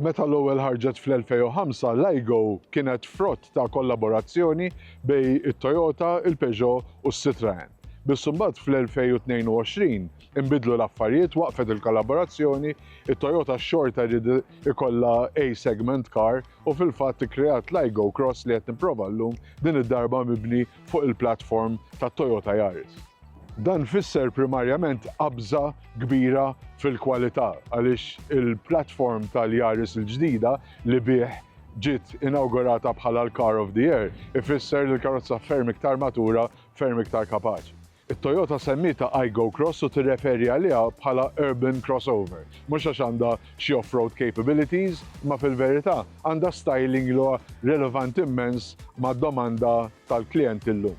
Meta l-ewwel ħarġet fl-2005, l-iGo kienet frott ta' kollaborazzjoni bej it-Toyota, il-Peugeot u s-Citroen. Biss imbagħad fl-2022 inbidlu l-affarijiet waqfet il-kollaborazzjoni, it-Toyota xorta jrid ikollha A-segment car u fil-fatt ikkreat l-iGo Cross li qed nipprova llum din id-darba mibni fuq il-platform tat-Toyota Yaris. Dan fisser primarjament qabża kbira fil-kwalità għaliex il-platform tal-Yaris il-ġdida li bih ġiet inawgurata bħala l-Car of the Year ifisser li l-karozza ferm iktar matura, ferm iktar kapaċi. It-Toyota semmietha Aygo Cross u tirreferi għaliha bħala urban crossover. Mhux għax għandha xi off-road capabilities, imma fil-verità għandha styling li huwa relevant immens mad-domanda tal-klijenti llum.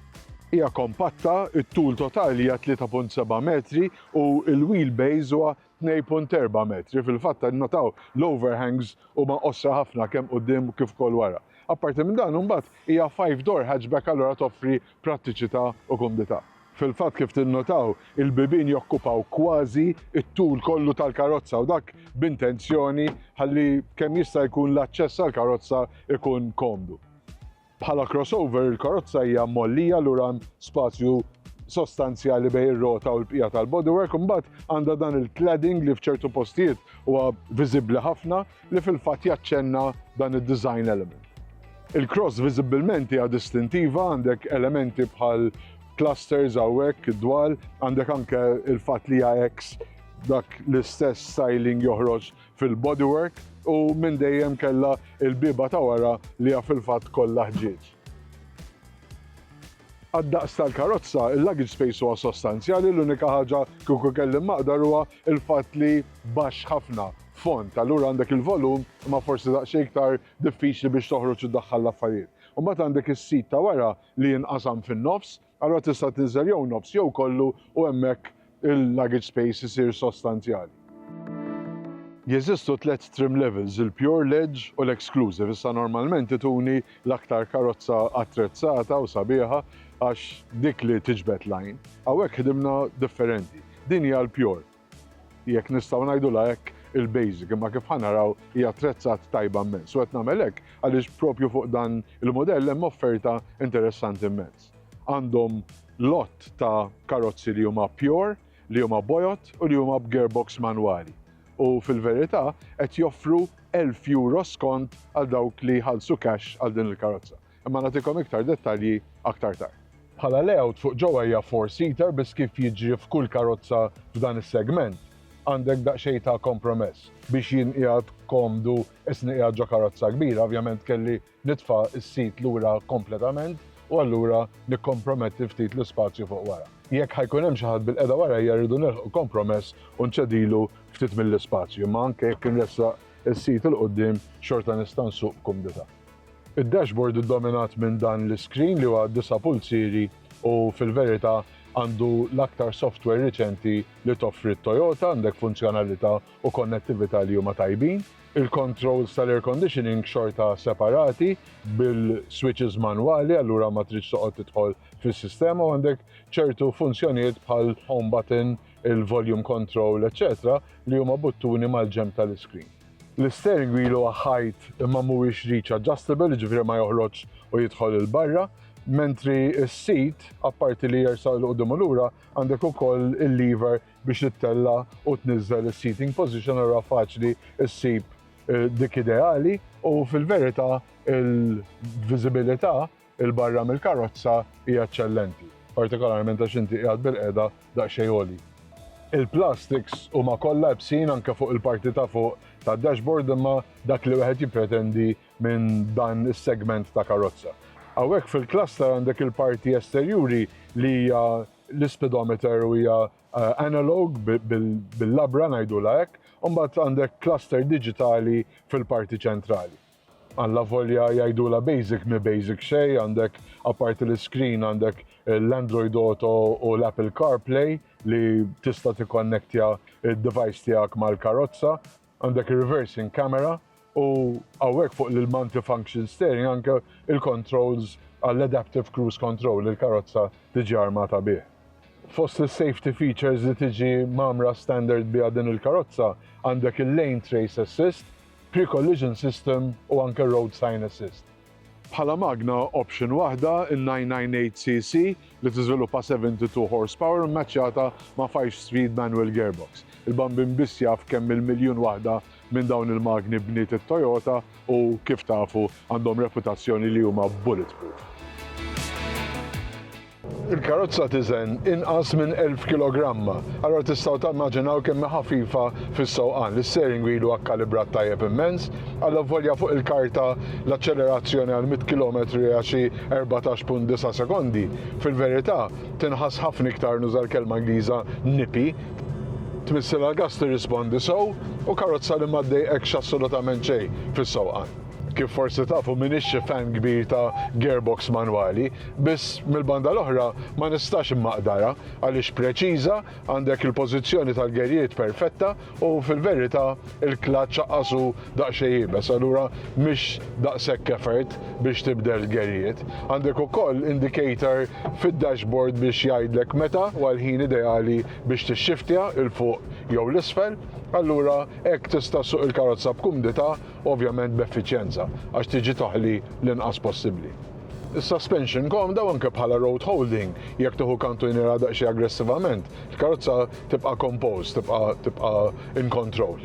Hija kompatta, it-tul totali hija 3.7 metri u l-wheelbase huwa 2.4 metri, fil-fatt innotaw l-overhangs huma qosra ħafna kemm quddiem u kif ukoll wara. Apparti minn dan imbagħad hija five door hatchback allura toffri prattiċità u kumdità. Fil-fatt kif tinnotaw il-bibien jokkupaw kważi t-tul kollu tal-karozza u dak b'intenzjoni ħalli kemm jista' jkun l-aċċess għall-karozza jkun komdu. Bħala crossover, il-karozza hija mgħollija lura hemm spazju sostanzjali bejn ir-rota u l-bqija tal-bodywork, imbagħad għandha dan il-cladding li f'ċertu postijiet huwa viżibbli ħafna li fil-fatt jaċċenna dan id-design element. Il-cross viżibbilment hija distintiva, għandek elementi bħal clusters hawnhekk id-dwal, għandek anke il-fatt li hija X dak l-istess styling joħroġ fil-bodywork u minn dejjem kellha l-bieba ta' wara li hija fil-fatt kollha ħġieġ. Għad-daqs tal-karozza, il-luggage space huwa sostanzjali, l-unika ħaġa kieku kelli maqdar huwa l-fatt li baxx ħafna, fond, allura għandek il-volum imma forsi daqsxejn iktar diffiċli biex toħroġ u ddaħħal l-affarijiet. Imbagħad għandek is-sit ta' wara li jinqasam fin-nofs, Allura tista' tinżel jew nofs jew kollu u hemmhekk il-luggage space isir sostanzjali. Jeżistu tliet trim levels, il-Pure, l-Edge u l-Exclusive. Issa normalment ituni l-aktar karozza attrezzata u sabiħa għax dik li tiġbed l-għajn. Hawnhekk ħdimna differenti. Din hija l-Pure. jekk nistgħu ngħidulha hekk, il-basic, imma kif ħa naraw hija attrezzat tajba mmens. U qed nagħmel hekk għaliex propju fuq dan il-modell hemm offerta interessanti mmens. Għandhom lot ta' karozzi li huma pure, li huma bojot u li huma b'gearbox manwali. U fil-verità qed joffru 1000 euro skont għal dawk li jħallsu cash għal din il-karozza. Imma nagħtikom iktar dettalji aktar tard. Bħala layout fuq ġewwa hija four seater biss kif jiġri f'kull karozza f'dan is-segment għandek daqsxejn ta' kompromess. Biex jien qiegħed komdu isni qiegħed ġo karozza kbira ovvjament kelli nitfa' s-sit lura kompletament u allura nikkomprometti ftit l-ispazju fuq wara. Jekk ħa jkun hemm xi ħadd bilqiegħda warajja rridu nilħqu kompromess u nċedilu ftit mill-ispazju imma anke jekk inressaq is-sit 'il quddiem xorta nista' nsuq b'kumdità. Id-dashboard iddominat minn dan l-iskrin li huwa disa' pulzieri u fil-verità għandu l-aktar software riċenti li toffri t-Toyota, għandek funzjonalità u konnettività li huma tajbin. Il-controls tal-air conditioning xorta separati bil-switches manwali allura ma tridx toqgħod tidħol fis-sistema u għandek ċertu funzjonijiet bħal home button, il-volume control eċċetera li huma buttuni mal-ġenb tal-iskrin. L-istergu ilu ħajt imma mhuwiex reach adjustable, jiġifieri ma joħroġx u jidħol 'il barra, mentri s-seat apparti li jersaq 'il quddiem u lura għandek ukoll il-lever biex ittella' u tniżżel is-seating position allura faċli ssib dik ideali u fil-verità il-viżibilità 'il barra mill-karozza hija eċċellenti, partikolarment għax inti qiegħed bilqiegħda daqsxejn għoli. Il-plastiks huma kollha ibsin anke fuq il-parti ta' fuq tad-dashboard imma dak li wieħed jippretendi minn dan is-segment ta' karozza. Hawnhekk fil-Cluster għandek il-parti esterjuri li hija l-ispidometer u hija analog bil-labra ngħidulha hekk, u mbagħad għandek cluster diġitali fil-parti ċentrali. Allavolja jgħidulha basic, mhi basic xejn, għandek apparti l-iskrin għandek l-Android Auto u l-Apple CarPlay li tista' tikkonnektja d-device tiegħek mal-karozza, għandek ir-reversing camera u hawnhekk fuq l-multifunction steering anke l-controls għall-adaptive cruise control li l-karozza tiġi armata bih. Fost is-safety features li tiġi mgħammra standard biha din il-karozza għandek il-lane trace assist pre-collision system u anke road sign assist. Bħala magna option waħda, in-998cc, li tiżviluppa 72 horsepower mmaċċjata ma' five-speed manual gearbox. Il-bambin biss jaf kemm il-miljun waħda minn dawn il-magni bniet it-Toyota u, kif tafu, għandhom reputazzjoni li huma bulletproof. Il-karozza tiżen inqas minn 1,000 kilogramma, allura tistgħu timmaġinaw kemm hi ħafifa fis-sewqan. L-isteering wheel huwa kkalibrat tajjeb immens, allavolja fuq il-karta l-aċċelerazzjoni għal 100 kilometru hija xi 14.9 sekondi, fil-verità tinħass ħafna iktar, nuża l-kelma Ingliża, nippy. Tmissilha l-gass tirrispondi sew u karozza li ma ddejqekx assolutament xejn fis-sewqan. Kif forsi tafu m'iniex xi fan kbir ta' gearbox manwali, biss mill-banda l-oħra ma nistax immaqdarha għaliex preċiża, għandek il-pożizzjoni tal-gerjiet perfetta u fil-verità il-klaċċ aqqas hu daqsxejn iebes allura mhix daqshekk effort biex tibdel gerjiet. Għandek ukoll indicator fid-dashboard biex jgħidlek meta huwa l-ħin ideali biex tixxiftja 'l fuq jew 'l isfel, allura hekk tista' ssuq il-karozza b'kumdità ovvjament b'effiċjenza għax tiġi toħli l-inqas possibbli. Is-suspension komda u anke bħala road holding, jekk tieħu kantunjera daqsxejn aggressivament, il-karozza tibqa' composed, tibqa' tibqa' in control.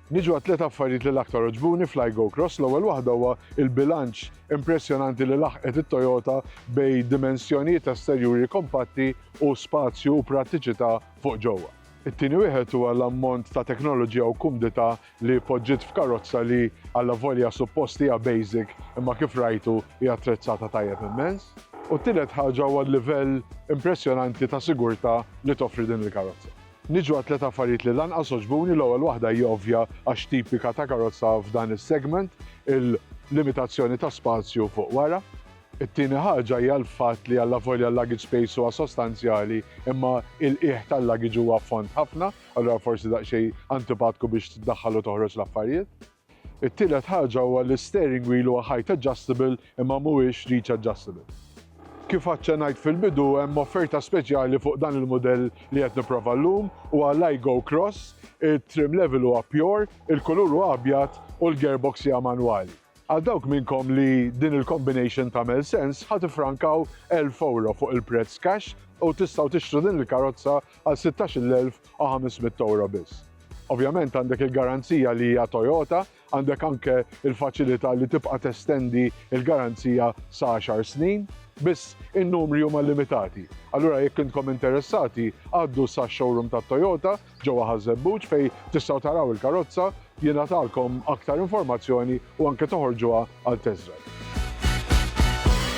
Niġu għat-tliet affarijiet li l-aktar għoġbuni fl-iGo Cross, l-ewwel waħda huwa il-bilanċ impressjonanti li laħqet it-Toyota bej dimensjonijiet esterjuri kompatti u spazju u prattiċità fuq ġewwa. It-tieni wieħed huwa l-ammont ta' teknoloġija u kumdità li poġġiet f'karozza li, allavolja suppost hija basic, imma kif rajtu hi attrezzata tajjeb immens. U t-tielet ħaġa huwa l-livell impressjonanti ta' sigurtà li toffri din il-karozza. Niġu għat-tliet affarijiet li l-anqas għoġbuni, l-ewwel waħda hi ovvja għax tipika ta' karozza f'dan is-segment, il-limitazzjoni ta' spazju fuq wara. It-tieni ħaġa hija l-fatt li allavolja l-luggage space huwa sostanzjali imma il-qiegħ tal-luggage huwa fond ħafna, allura forsi daqsxejn antipatku biex tdaħħal u toħroġ l-affarijiet. It-tielet ħaġa huwa li s-steering wheel huwa height adjustable imma mhuwiex reach adjustable. Kif aċċennajt fil-bidu hemm offerta speċjali fuq dan il-mudell li qed nipprova llum, huwa l-Aygo Cross, it-trim level huwa pure, il-kulur huwa abjad u l-gearbox hija manwali. Għal dawk minnkom li din il-combination tagħmel sens, ħa tiffrankaw elf ewro fuq il-prezz cash u tistgħu tixtru din il-karozza għal 16,500 ewro biss. Ovvjament għandek il-garanzija li hija Toyota, għandek anke il-faċilità li tibqa' testendi il-garanzija sa 10 snin, biss in-numri huma limitati. Allura jekk intkom interessati, għaddu sax-showroom tat-Toyota Ġewwa Ħaż-Żebbuġ, fejn tistgħu taraw il-karozza, jingħatalkom aktar informazzjoni u anke toħorġuha għal test drive.